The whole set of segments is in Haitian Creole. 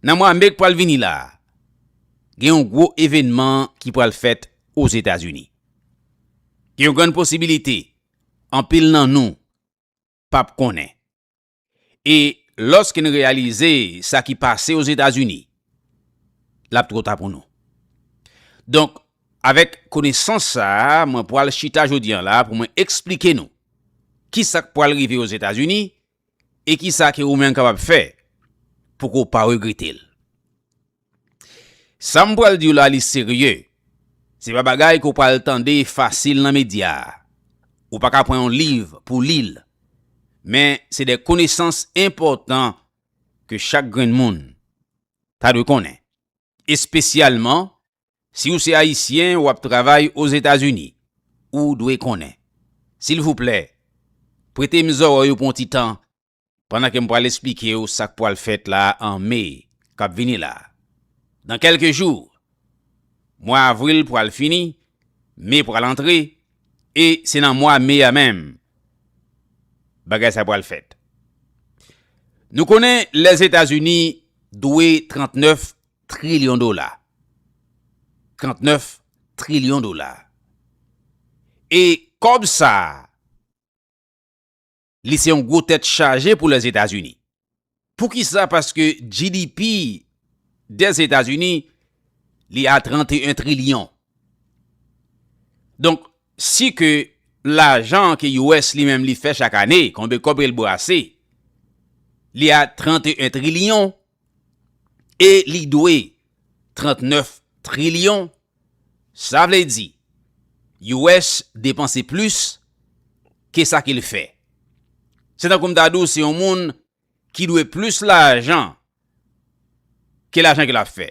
Nan mwa me k pral vini la a, gen yon gwo evènman ki pral fèt Ozetazini. Gen yon grann posibilite anpil nan nou pa p konnen. E lòske n reyalize sa ki pase Ozetazini, l ap twò ta pou nou. Donk, avèk konesans sa a, mwen pral chita jodi an la pou mwen esplike nou ki sa k pral rive Ozetazini E ki sa ke ou menm kapab fè pou ke w pa regrete l? Sa m pral di w la li serye. Se pa bagay ke w pral tande fasil nan medya. Ou pa ka pran yon liv pou w li l. Men se de konesans enpòtan ke chak grenn moun ta dwe konnen. Espesyalman, si ou se Ayisyen w ap travay Ozetazini, ou dwe konnen. Silvouplè, prete m zòrèy ou pou yon ti tan pandan ke m pral esplike w sa k pwal fèt la an Me k ap vini la. Nan kèlke jou, mwa Avril pral fini, Me pral antre, E se nan mwa me a menm bagay sa pral fèt. Nou konnen Lèzetazini dwe 39 trilyon dola. 39 trilyon dola. E kòb sa a li se yon gwo tèt chaje pou Lèzetazini. Poukisa? Paske GDP Dèzetazini li a 31 trilyon. Donk, si ke lajan ke US li menm li fè chak ane, konbe kòb ke l brase, li a 31 trilyon, e li dwe 39 trilyon, sa vle di US depanse plis ke sa ke l fè. Se tankou m ta di w se yon moun ki dwe plis lajan ke lajan ke l ap fè.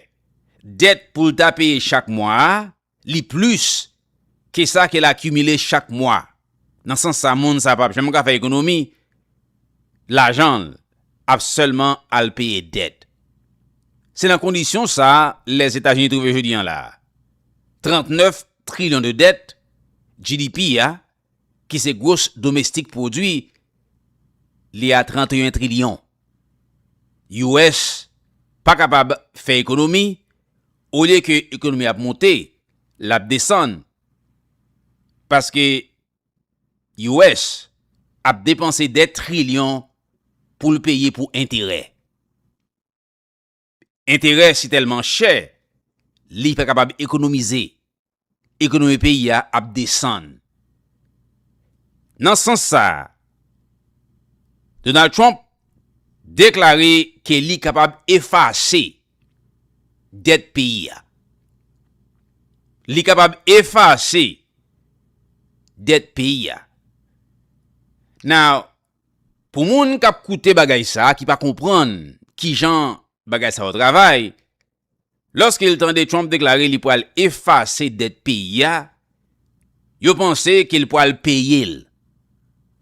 Dèt pou l ta peye chak mwa a, li plis ke sa ke l akimile chak mwa. Nan sans sa, moun sa pap janm ka fè ekonomi, lajan l ap sèlman al peye dèt. Se nan kondisyon sa Lèzetazini twouve jodi an la. 39 trilyon de dèt, GDP a, ki se gros domestik pwodwi li a 31 trilyon. US pa kapab fè ekonomi, olye ke ekonomi ap monte, l ap desann. Paske US ap depanse dè trilyon pou l peye pou enterè. Enterè si tèlman chè, li pa kapab ekonomize, ekonomi peyi a ap desann. Nan sans sa a, Donald Trump deklare ke li kapab efase dèt peyi a. Li kapab efase dèt peyi a. Now, Pou moun kap koute bagay sa ki pa konprann kijan bagay sa yo travay, lòske l tande Trump deklare li pral efase dèt peyi a, yo panse ke l pral peye l.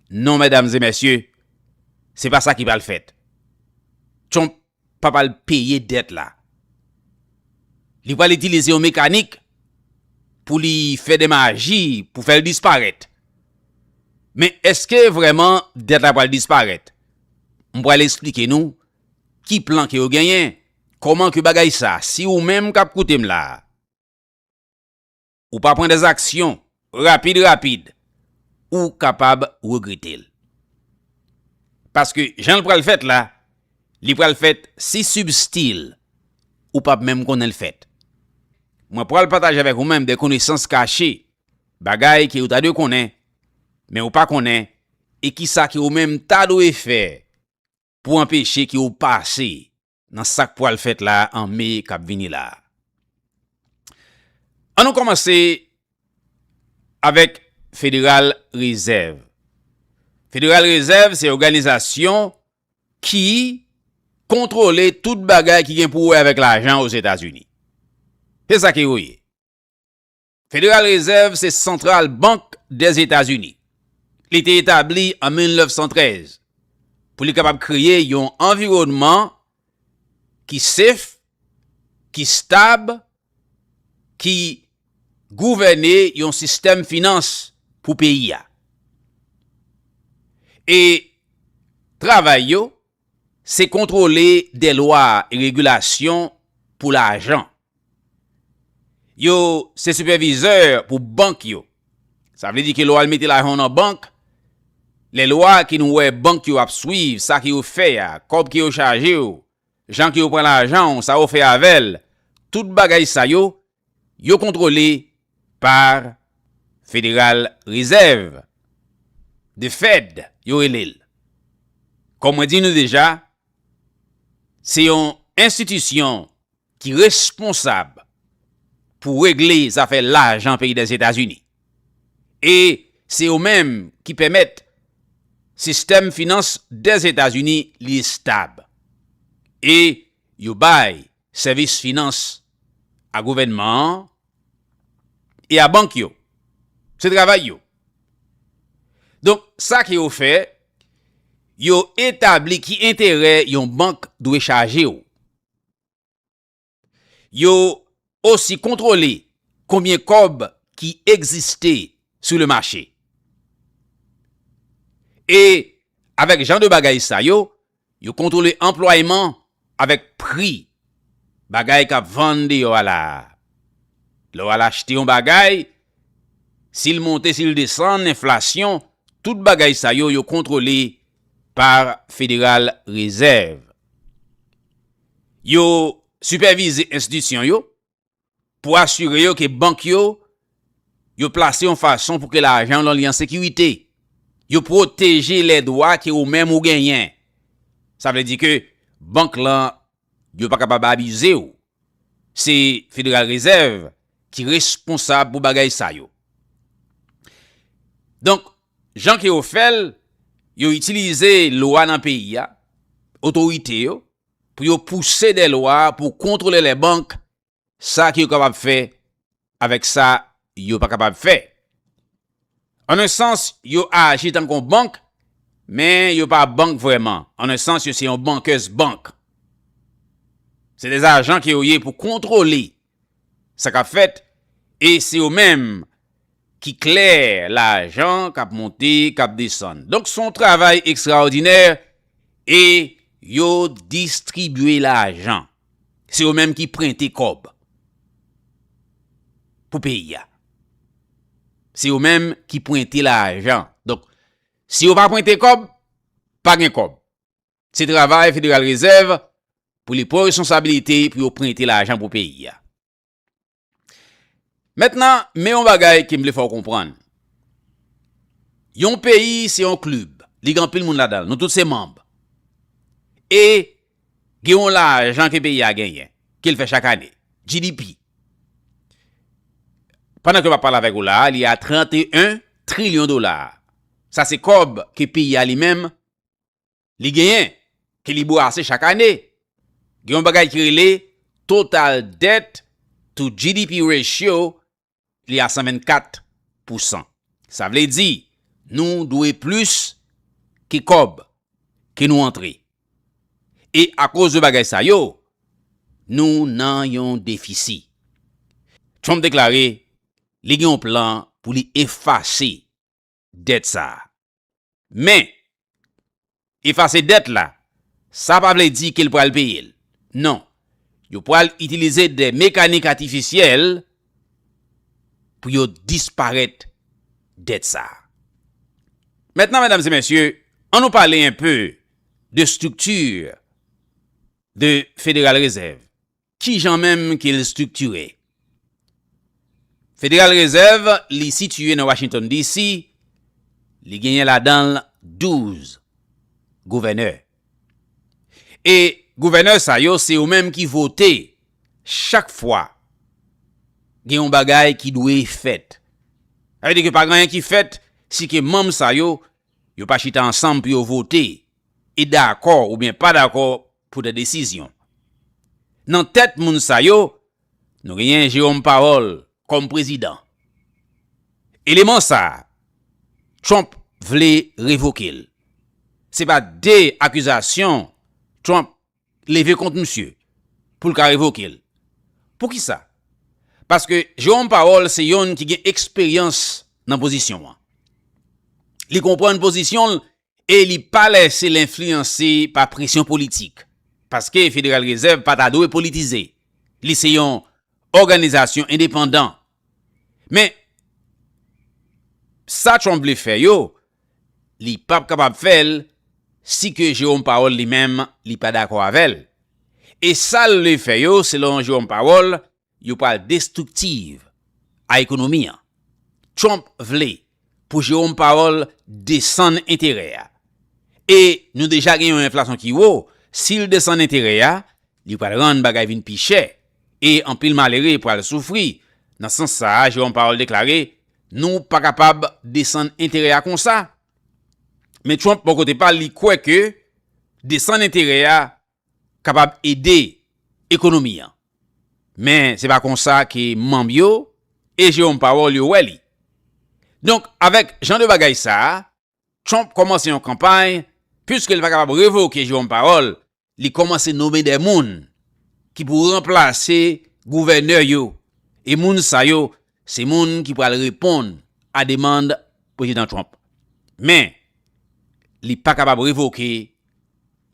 Non mèdam e mèsye, se pa sa ki pral fèt. Trump pa pral peye dèt la. Li pral itilize yon mekanik pou li fè de maji pou fè l disparèt. Men èske vrèman dèt la pral disparèt? M pral esplike nou ki plan ke yo genyen, kòman ke bagay sa, si ou menm k ap koute m la a, ou pa pran des aksyon rapid rapid ou kapab regretel. Paske janl pral fèt la li pral fèt si sibstil ou pap menm konnenl fèt. Mwen pral pataje avèk ou menm de konesans kache bagay ke ou ta dwe konnen men ou pa konnen e kisa ke ou menm ta dwe fè pou anpeche ke ou pase nan sak pwal fèt la an me kap vini la. An nou kòmanse avèk federal rezèv. Federal rezèv se òganizasyon ki kontwole tout bagay ki gen pou wè avèk lajan ozetazini. Se sa ke yo ye. Federal Reserve se Santral Bank dè Etazini. Li te etabli an 1913 pou li kapab kreye yon anviwònman ki sef, ki stab, ki gouvène yon sistèm finans pou peyi a. E travay yo. Se kontwole de lwa e regilasyon pou lajan. Yo se sipèvizè pou bank yo. Sa vle di ke lè w al mete lajan w nan bank, lè lwa ki nou wè bank yo ap swiv sa ke yo fè a, kòb ke yo chaje w, jan ke yo pran lajan w, sa yo fè avè l, tout bagay sa yo Yo kontwole par Federal Reserve, The Fed yo rele l. Kòm mwen di nou deja, se yon enstitisyon ki responsab pou regle zafè lajan peyi Dèzetazini. E se yo menm ki pèmèt sistèm finans Dèzetazini li estab. E yo bay Sèvis finans a gouvènman an e a bank yo. Se travay yo. Donk, sa ke yo fè, yo etabli ki enterè yon bank dwe chaje ou. Yo osi kontwole konbyen kòb ki egziste sou le mache. E avèk jan de bagay sa yo, Yo kontwole anplwayman avèk pri bagay k ap vann deyò a la a. Lè w al achte yon bagay, si l monte, si l desann, enflasyon, tout bagay sa yo, yo kontwole pa Federal Reserve. Yo sipèvize enstitisyon yo, pou asire yo ke bank yo yo plase yon fason pou ke lajan w lan li an sekirite. Yo pwoteje lè dwa ke ou menm ou genyen. Sa vle di ke bank lan yo pa kapab abize w. Se Federal Reserve ki responsab pou bagay sa yo. Donk, jan ke yo fè l, yo itilize lwa nan peyi a, otorite yo, pou yo pouse dè lwa pou kontwole lè bank, sa ki yo kapab fè avèk sa yo pa kapab fè. An un sans, yo aji tankou yon bank, men yo pa bank vrèman, an un sans yo se yon bankers bank. Se dè ajan ke yo ye pou kontwole Sa kap fèt e se yo menm ki kle lajan kap monte kap desann. Donk son travay ekstraòdinè e yo distribye lajan. Se yo menm ki prente kòb pou peyi a. Se yo menm ki prente lajan. Donk si yo pa prente kòb, pa gen kòb. Se travay Federal Rezèv pou li pran responsabilite pou yo prente lajan pou peyi a. Mentnan, men yon bagay ke m vle fè w konprann. Yon peyi se yon klib, li gen anpil moun ladan l, nou tout se manb. E gen yon lajan ke peyi a genyen, ke l fè chak ane, GDP. Pandan ke m ap pale avèk ou la a, li a 31 trilyon dola. Sa se kòb ke peyi a li menm li genyen, ke li bwase chak ane. Gen yon bagay ki rele total debt to GDP ratio, li a 124 pousan. Sa vle di, nou dwe plis ke kòb ke nou antre. E akoz de bagay sa yo, nou nan yon defisi. Trump deklare li gen yon plan pou li efase dèt sa a. Men, efase dèt la, sa pa vle di ke l pral peye l. Non. Yo pral itilize de mekanik atifisyèl pou yo disparèt dèt sa a. Mentnan, medam e mesye, an nou pale enpe de estrikti de Federal Rezèv. Ki jan menm ke l striktire? Federal Reserve li sitiye nan Washington DC. Li genyen ladan l 12 gouvènè. E gouvènè sa yo se yo menm ki vote chak fwa gen yon bagay ki dwe fèt. Sa vle di ke pa gen anyen ki fèt si ke manm sa yo, yo pa chita ansanm pou yo vote e dakò oubyen pa dakò pou de desizyon. Nan tèt moun sa yo, nou genyen Jerome Powell kòm prezidan. Eleman sa, Trump vle revoke l. Se pa de akizasyon Trump leve kont misye pou l ka revoke l. Poukisa? Paske Jerome Powell se yonn ki gen eksperyans nan pozisyon an. Li konprann pozisyon l e li pa lèse l enfliyanse pa presyon politik, paske Federal Reserve pa ta dwe politize, li se yon òganizasyon endepandan. Men, sa Trump vle fè yo, li p ap kapab fè l si ke Jerome Powell li menm li pa dakò avè l. E sa l vle fè yo, selon Jerome Powell, Yo pral destructive a ekonomi an. Trump vle pou Jerome Powell desann enterè a. E nou deja gen yon enflasyon ki wo, si l desann enterè a, li pral rann bagay vin pi chè, e anpil malere pral soufri. Nan sans sa a, Jerome Powell deklare, Nou pa kapab desann enterè a konsa. Men Trump bò kote pa l, li kwè ke desann enterè a kapab ede ekonomi an. Men se pa konsa ke manm yo e Jerome Powell yo wè li. Donk avèk jan de bagay sa a, Trump kòmanse yon kanpay, piske li pa kapab revoke Jerome Powell, li kòmanse nome de moun ki pou ranplase gouvènè yo e moun sa yo Se moun ki pral reponn a demand Prezidan Trump. Men, li pa kapab revoke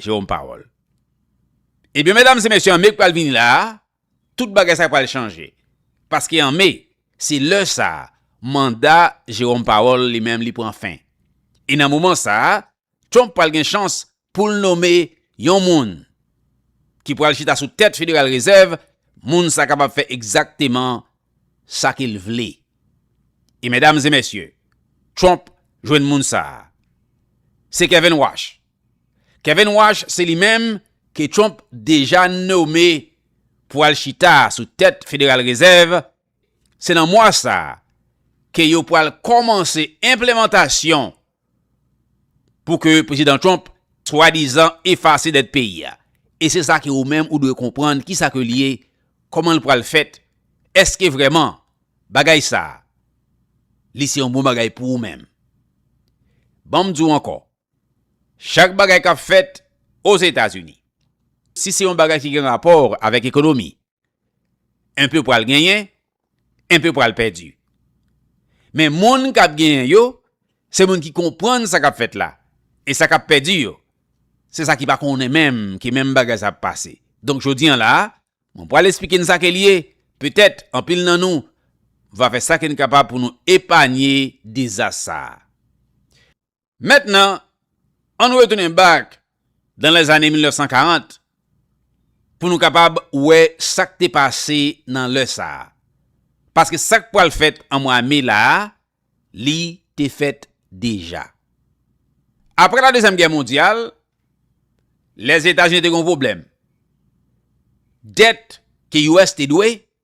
Jerome Powell. Ebyen medam e mesye an me k pral vini la a, tout bagay sa pral chanje. Paske an me, se lè sa a manda Jerome Powell li menm li pran fen. E nan moman sa a, Trump pral gen chans pou l nome yon moun ki pral chita sou tèt Federal Reserve, moun sa kapab fè egzakteman sa ke l vle. E medam e mesye, Trump jwenn moun sa a. Se Kevin Warsh. Kevin Warsh se li menm ke Trump deja nome pou al chita sou tèt Federal Reserve, Se nan mwa sa a ke yo pral kòmanse enplemantasyon pou ke Prezidan Trump swadizan efase dèt peyi a. E se sa ke ou menm ou dwe konprann ki sa ke li ye, kòman l pral fèt, èske vrèman bagay sa a li se yon bon bagay pou ou menm. Ban m di w ankò, chak bagay k ap fèt Ozetazini, si se yon bagay ki gen rapò avèk ekonomi, Enpe pral genyen, enpe pral pèdi. Men moun k ap genyen yo, se moun ki konprann sa k ap fèt la. E sa k ap pèdi yo, se sa ki pa konnen menm ki menm bagay sa ap pase. Donk jodi an la a, mwen pral esplike n sa ke l ye, petèt anpil nan nou va fè sa ke n kapab pou nou epanye dezas sa a. Mentnan, ann retounen bak dan lèzane 1940 pou nou kapab wè sa k te pase nan lè sa a. Paske sa k pral fèt an mwa me la a, li te fèt deja. Apre Ladezyèm Gè Mondyal, Lèzetazini te gen yon pwoblèm. Dèt ke US te dwe,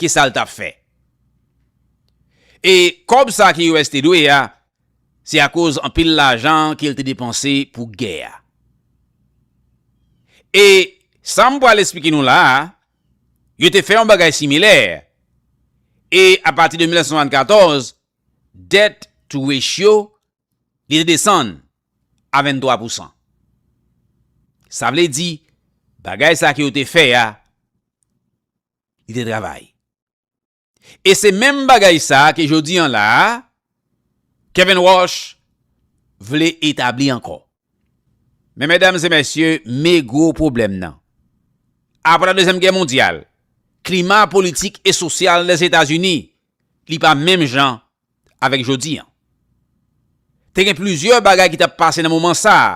Kisa l t ap fè? E kòb sa ki US te dwe a, se akoz anpil lajan ke l te depanse pou gè a. E sa m pral esplike nou la a, yo te fè yon bagay similè, e apati de 1974, dèt-tou-rechyo li te desann a 23 pousan. Sa vle di, bagay sa ke yo te fè a, li te travay. E se menm bagay sa ke jodi an la a, Kevin Walsh vle etabli ankò. Men medam e mesye, me gwo pwoblèm nan. Apre la dezyèm gè mondyal, klima politik e sosyal Lèzetazini, li pa menm jan avèk jodi an. Te gen plizyè bagay ki t ap pase nan moman sa a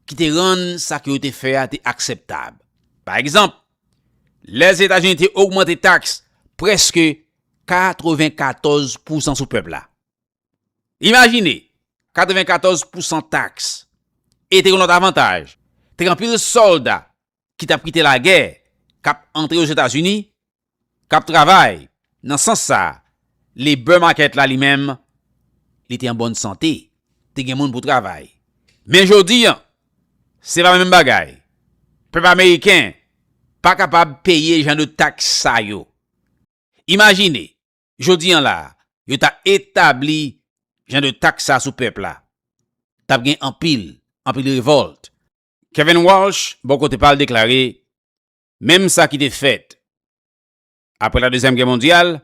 ki te rann sa ke yo te fè a te akseptab. Pa egzanp, Lèzetazini te ogmante taks prèske 94 pousan sou pèp la. Imajine, 94 pousan taks e te gen lòt avantaj. Te gen anpil sòlda ki t ap kite lagè, k ap antre Ozetazini, k ap travay nan sans sa a. Labor Market la li menm, li te an bòn sante, te gen moun pou travay. Men jodi an, se pa menm bagay. Pèp ameriken pa kapab peye jan de taks sa yo. Imajine, jodi an la a, yo ta etabli jan de taks sa a sou pèp la. T ap gen anpil, anpil revòlte. Kevin Walsh bò kote pa l deklare menm sa ki te fèt apre la dezyèm gè mondyal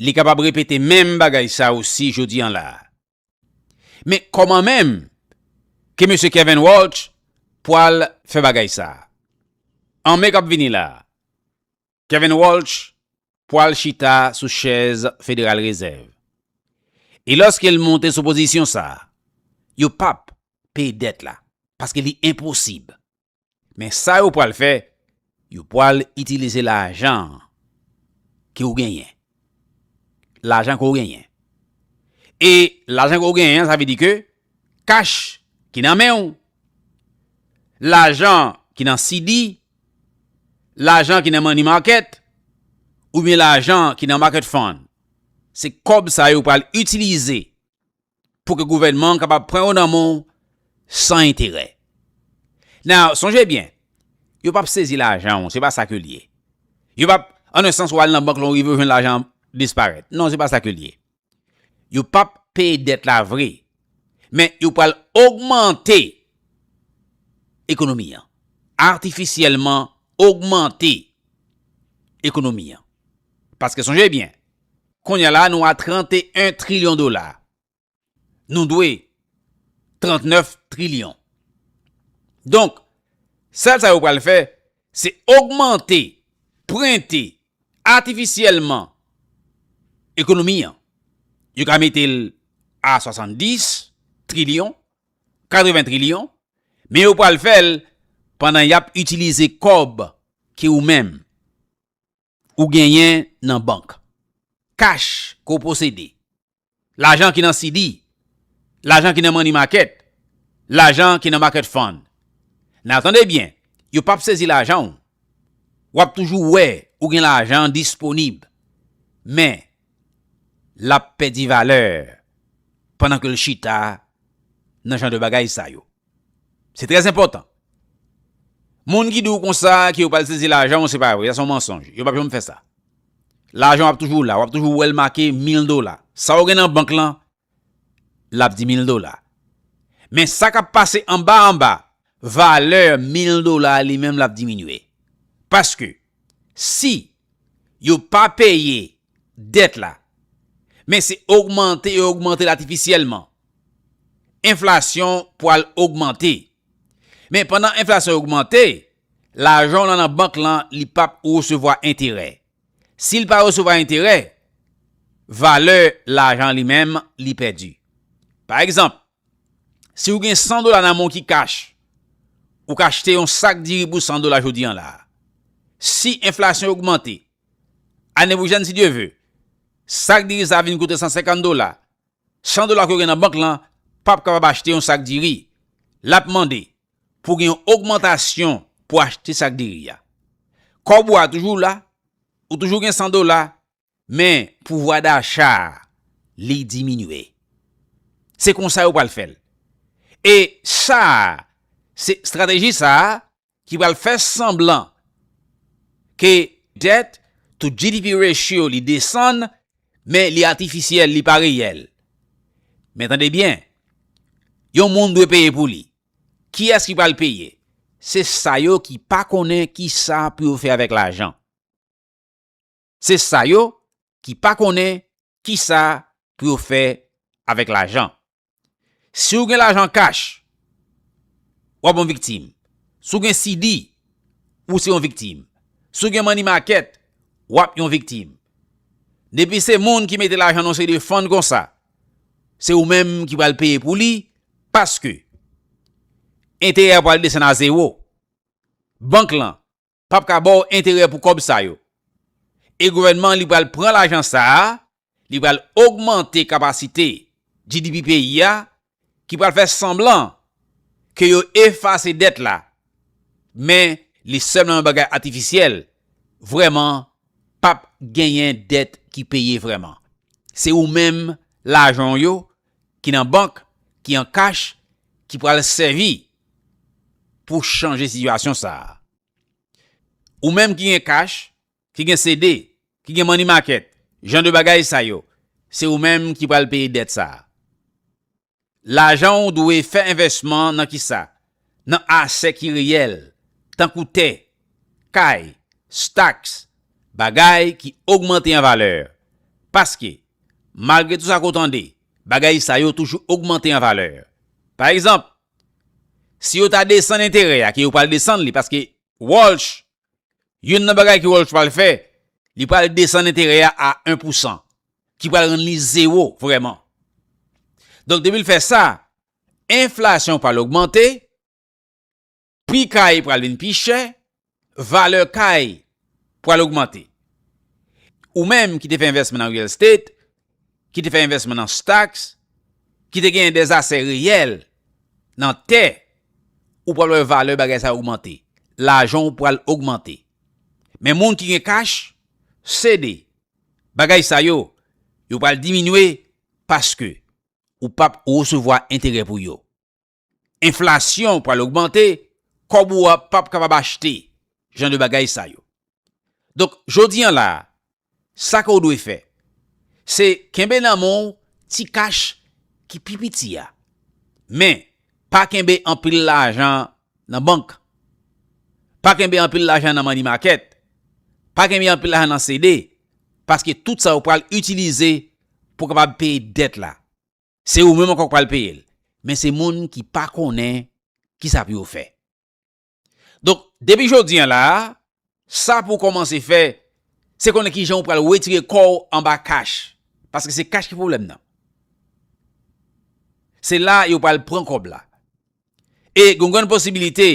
li kapab repete menm bagay sa osi jodi an la. Men kòman menm ke mesye Kevin Walsh pwal fè bagay sa an me k ap vini la? Kevin Walsh pwal chita sou chèz Federal Reserve. E lòske l monte sou pozisyon sa, yo pap peye dèt la, paske li enposib. Men sa yo pwal fè, yo pwal itilize lajan ke ou genyen. Lajan ke ou genyen. E lajan ke ou genyen, sa vle di ke kach ki nan men ou, lajan ki nan CD, Lajan ki nan money market oubyen lajan ki nan market fund, se kòb sa yo pral itilize pou ke gouvènman an kapab pran yo nan men w san enterè. Now, sonje byen, yo pap sezi lajan w, se pa sa ke l ye. Yo pap, an un sans ou al nan bank lè w rive ou jwenn lajan an disparèt. Non, se pa sa ke l ye. Yo p ap peye dèt la vre, men yo pral ogmante ekonomi an, atifisyèlman ogmante ekonomi an. Paske sonje byen, kounye a la nou a 31 trilyon dola, nou dwe 39 trilyon. Donk, sèl sa yo pral fè, Se ogmante, prente, atifisyèlman ekonomi an. Yo ka mete l a 70 trilyon, 80 trilyon, men yo pral fè l pandan y ap itilize kòb ke ou menm. ou genyen nan bank, kach ke w posede, lajan ki nan CD, lajan ki nan money market, lajan ki nan market fund. Men tande byen, yo pap sezi lajan w, w ap toujou wè ou gen lajan disponib, men l ap pèdi valè pandan ke l chita nan jan de bagay sa yo. Se trè enpòtan. Moun ki di w konsa ke yo pral sezi lajan w se pa vre, sa se yon mansonj. Yo pap janm fè sa. Lajan w ap toujou la, w ap toujou wè l make mil dola. Sa w gen nan bank lan, l ap di mil dola. Men sa k ap pase anba anba, valè mil dola a li menm l ap diminye. Paske, si Yo pa peye dèt la, men se ogmante yo ogmante l atifisyèlman. Enflasyon pwal ogmante. Men pandan enflasyon ogmante, lajan w lan nan bank lan li pap resevwa enterè. Si l pa resevwa enterè, valè lajan li menm li pèdi. Pa egzanp, Si ou gen 100 dola nan men w ki kach, ou ka achte yon sak diri pou 100 dola jodi an la a. Si enflasyon ogmante, ane pwochèn si Dye ve, sak diri sa a vin koute 150 dola, 100 dola ke w gen nan bank lan p ap kapab achte yon sak diri. L ap mande pou w gen yon ogmantasyon pou achte sak diri a. Kòb ou a toujou la, ou toujou gen 100 dola, Men pouvwa dacha li diminye. Se konsa yo pral fè l. E sa a, se estrateji sa a ki pral fè sanblan ke dèt to GDP ratio li desann, men li atifisyèl, li pa reyèl. Men tande byen, yon moun dwe peye pou li. Kiyès ki pral peye? Se sa yo ki pa konnen kisa pou yo fè avèk lajan. Se sa yo ki pa konnen kisa pou yo fè avèk lajan. Si ou gen lajan kach, wap yon viktim. Si ou gen CD, ou se yon viktim. Si ou gen money market, wap yon viktim. Depi se moun ki mete lajan nan yon seri de fund konsa, se ou menm ki pral peye pou li, paske enterè a pral desann a zewo. Bank lan pap ka baw enterè pou kòb sa yo. E gouvènman li pral pran lajan sa a, li pral ogmante kapasite GDP peyi a ki pral fè sanblan ke yo efase dèt la, men li sèlman yon bagay atifisyèl, vrèman pap genyen dèt ki peye vrèman. Se ou menm lajan w yo ki nan bank, ki an kach ki pral sèvi pou chanje sitiyasyon sa a. Ou menm ki gen kach, ki gen CD, ki gen money market, jan de bagay sa yo, se ou menm ki pral peye dèt sa a. Lajan ou dwe fè envèsman nan kisa? Nan asè ki reyèl, tankou tè, kay, staks, bagay ki ogmante an valè. Paske, malgre tou sa ke w tande, bagay sa yo toujou ogmante an valè. Pa egzanp, Si yo ta desann enterè a, ke yo pral desann li, paske Walsh, youn nan bagay ke Walsh pral fè, li pral desann enterè a a 1 pou 100, ki pral rann li zewo vrèman. Donk depi l fè sa, enflasyon pral ogmante, pri kay pral vin pi chè, valè kay pral ogmante. Ou menm ki te fè envèsman nan real estate, ki te fè envèsman nan stocks, ki te genyen des asè reyèl nan tè, ou pral wè valè bagay sa yo ogmante. Lajan ou pral ogmante. Men moun ki gen kach, CD, bagay sa yo, yo pral diminye paske ou pap resevwa enterè pou yo. Enflasyon pral ogmante, kòb ou a pap kapab achte jan de bagay sa yo. Donk, jodi an la a, sa ke w dwe fè, se kenbe nan men w ti kach ki pi piti a. Men, pa kenbe anpil lajan nan bank. Pa kenbe anpil lajan nan money market. Pa kenbe anpil lajan nan CD. Paske tout sa yo pral itilize pou kapab peye dèt la. Se ou menm ankò k pral peye l. Men se moun ki pa konnen ki sa pou yo fè. Donk, depi jodi an la a, sa pou w kòmanse fè, se konnen ki jan ou pral wetire kò w anba kach. Paske se kach ki pwoblèm nan. Se la yo pral pran kòb la. E gen yon grann posibilite,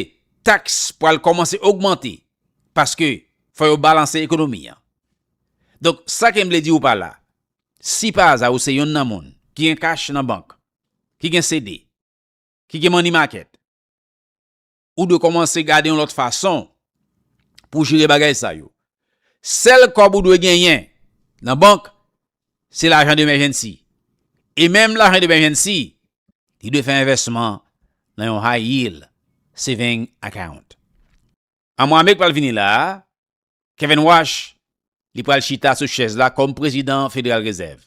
taks pral kòmanse ogmante. Paske, fò yo balanse ekonomi an. Donk, sa ke m vle di ou pa la, Si pa aza ou se yonn nan moun ki gen kach nan bank, ki gen CD, ki gen money market, ou dwe kòmanse gade yon lòt fason pou w jere bagay sa yo. Sèl kòb ou dwe genyen nan bank, se lajan de mèjènsi. E menm lajan de mèjènsi, li dwe fè envèsman nan yon high yield saving account. Amwa me k pral vini la a, Kevin Warsh, li pral chita sou chèz la kòm prezidan Federal Reserve.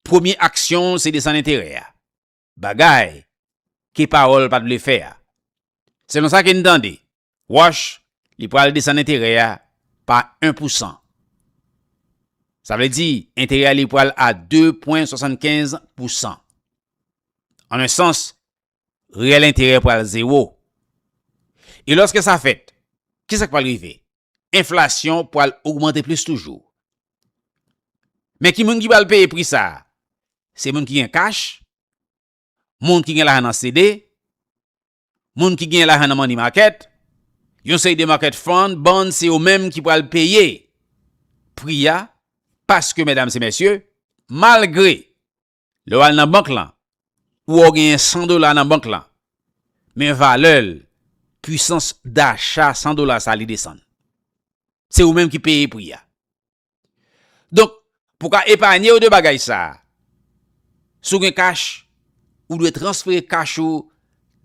Premye aksyon l se desann enterè a, bagay ke Powell pat vle fè a. Selon sa ke n tande, Warsh, li pral desann enterè a pa 1 pou san. Sa vle di, enterè a li pral a 2 pwen 75 pou san. An un sans, rèl enterè pral zewo. E lòske sa fèt, ki sa k pral rive? Enflasyon pral ogmante plis toujou. Men ki moun ki pral peye pri sa a? Se moun ki gen kach, moun ki gen lajan nan CD, moun ki gen lajan nan money market, yon seri de market fund, bond, se yo menm ki pral peye pri a paske, medam e mesye, malgre Lè w al nan bank lan, ou wè w genyen 100 dola nan bank lan, men valè l, pwisans dacha 100 dola sa li desann. Se ou menm ki peye pri a. Donk, pou w ka epanye w de bagay sa, si w gen kach, ou dwe transfere kach ou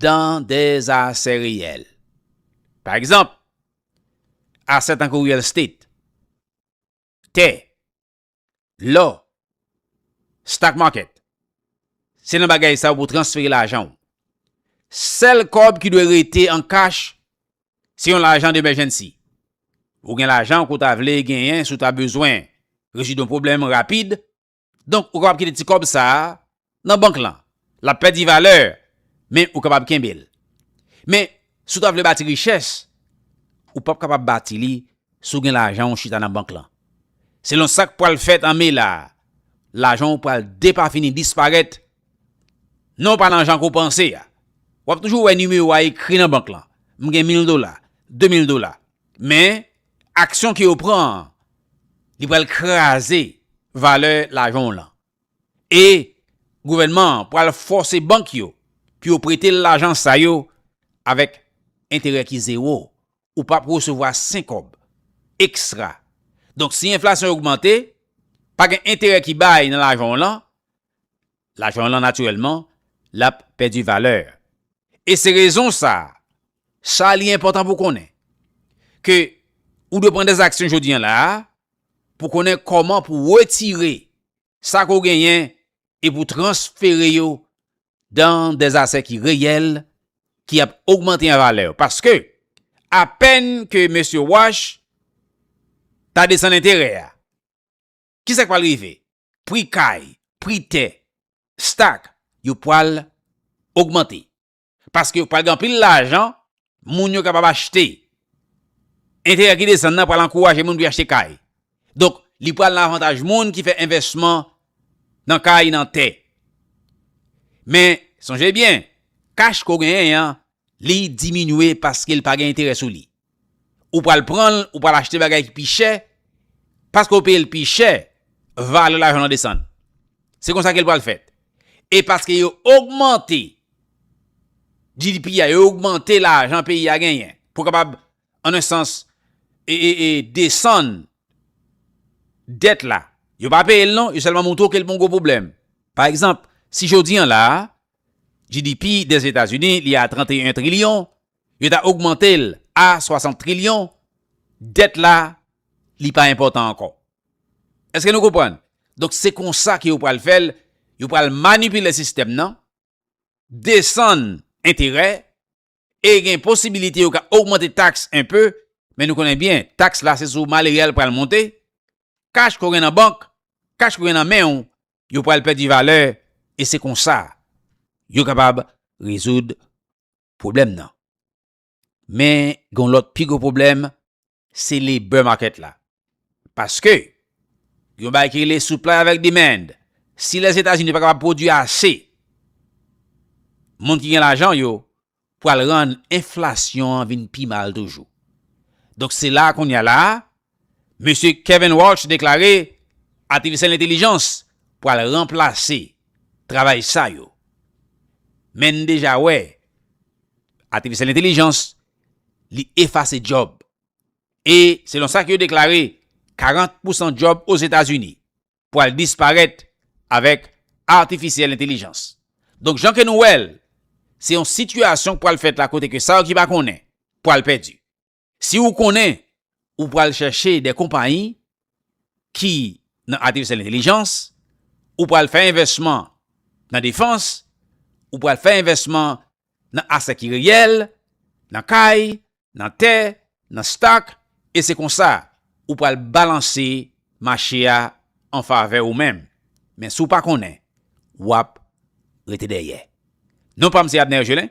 dan de asè reyèl. Pa egzanp, asè tankou real estate, tè, Lò, stock market, se nan bagay sa ou pou transfere lajan ou. Sèl kòb ki dwe rete an kach, se yon lajan demèjènsi. Ou gen lajan ke w ta vle genyen si w ta bezwen rezoud yon pwoblèm rapid, donk ou kapab kite ti kòb sa a nan bank lan, l ap pèdi valè, men ou kapab kenbe l. Men, si w ta vle bati richès, ou p ap kapab bati li si w gen lajan w chita nan bank lan. Selon sa k pral fèt an me la a, lajan w pral depafini disparèt, non pa nan jan ke w panse a. W ap toujou wè nimewo a ekri nan bank lan, m gen mil dola, de mil dola. Men, aksyon ke yo pran an, li pral kraze valè lajan w lan. e gouvènman an pral fòse bank yo pou yo prete l lajan sa yo avèk enterè ki zewo, ou p ap resevwa senkòb ekstra. Donk si enflasyon an ogmante, pa gen enterè ki bay nan lajan w lan, lajan w lan natirèlman l ap pèdi valè. E se rezon sa Sa li enpòtan pou w konnen, ke ou dwe pran dè aksyon jodi an la a, pou konnen kòman pou w retire sa ke w genyen e pou w transfere yo dan dè asè ki reyèl, ki ap ogmante an valè. Paske, apèn ke mesye Wash ta desann enterè a, ki sa k pral rive? Pri kay, pri tè, stak, yo pral ogmante. Paske yo pral gen anpil lajan moun yo kapab achte. Enterè ki desann nan pral ankouraje moun pou yo achte kay. Donk, li pral nan avantaj moun ki fè envèsman nan kay, nan tè. Men, sonje byen, kach ke w genyen an, li diminye paske li pa gen enterè sou li. ou pral pranl ou pral achte bagay ki pi chè paske ou peyel pi chè valè lajan lan desann se konsa kel pral fèt e paske yo ogmante GDP a yo ogmante lajan peyi a genyen pou kapab an en sans e desann dèt la yo pa peyel non yo sèlman moutre kel gon gwo pwoblèm pa egzanp si jodi an la GDP des Etats Unis li a 31 trilyon Yo ta ogmante l a 60 trilyon, dèt la li pa enpòtan ankò. Eske nou konprann? Donk se konsa ke yo pral fè l, yo pral manipile sistèm nan, desann enterè, e gen posibilite yo ka ogmante taks enpe, men nou konnen byen taks la se sou malere a l pral monte, kach ke w gen nan bank, kach ke w gen nan men w, yo pral pèdi valè, e se konsa yo kapab rezoud pwoblèm nan. Men gen yon lòt pi gwo pwoblèm, se labor market la. Paske, gen yon bagay ki rele supply avèk demand. Si Lèzetazini pa kapab pwodui ase, moun ki gen lajan yo pral rann enflasyon an vin pi mal toujou. Donk se la a kounye a la a, Mesye Kevin Walsh deklare atifisyèl entelijans pral ranplase travay sa yo. Men n deja wè atifisyèl entelijans li efase djòb. E selon sa ke yo deklare 40 pousan djòb Ozetazini pral disparèt avèk atifisyèl entelijans. Donk jan ke nou wè l, se yon sitiyasyon k pral fèt la kote ke sa yo ki pa konnen pral pèdi. Si ou konnen ou pral chèche de konpayi ki nan atifisyèl entelijans, ou pral fè envèsman nan defans, ou pral fè envèsman nan asè ki reyèl, nan kay, nan tè, nan stock, e se konsa ou pral balanse mache a an favè ou menm. Men si w pa konnen, w ap rete dèyè. Non pa m se Abner Gelin.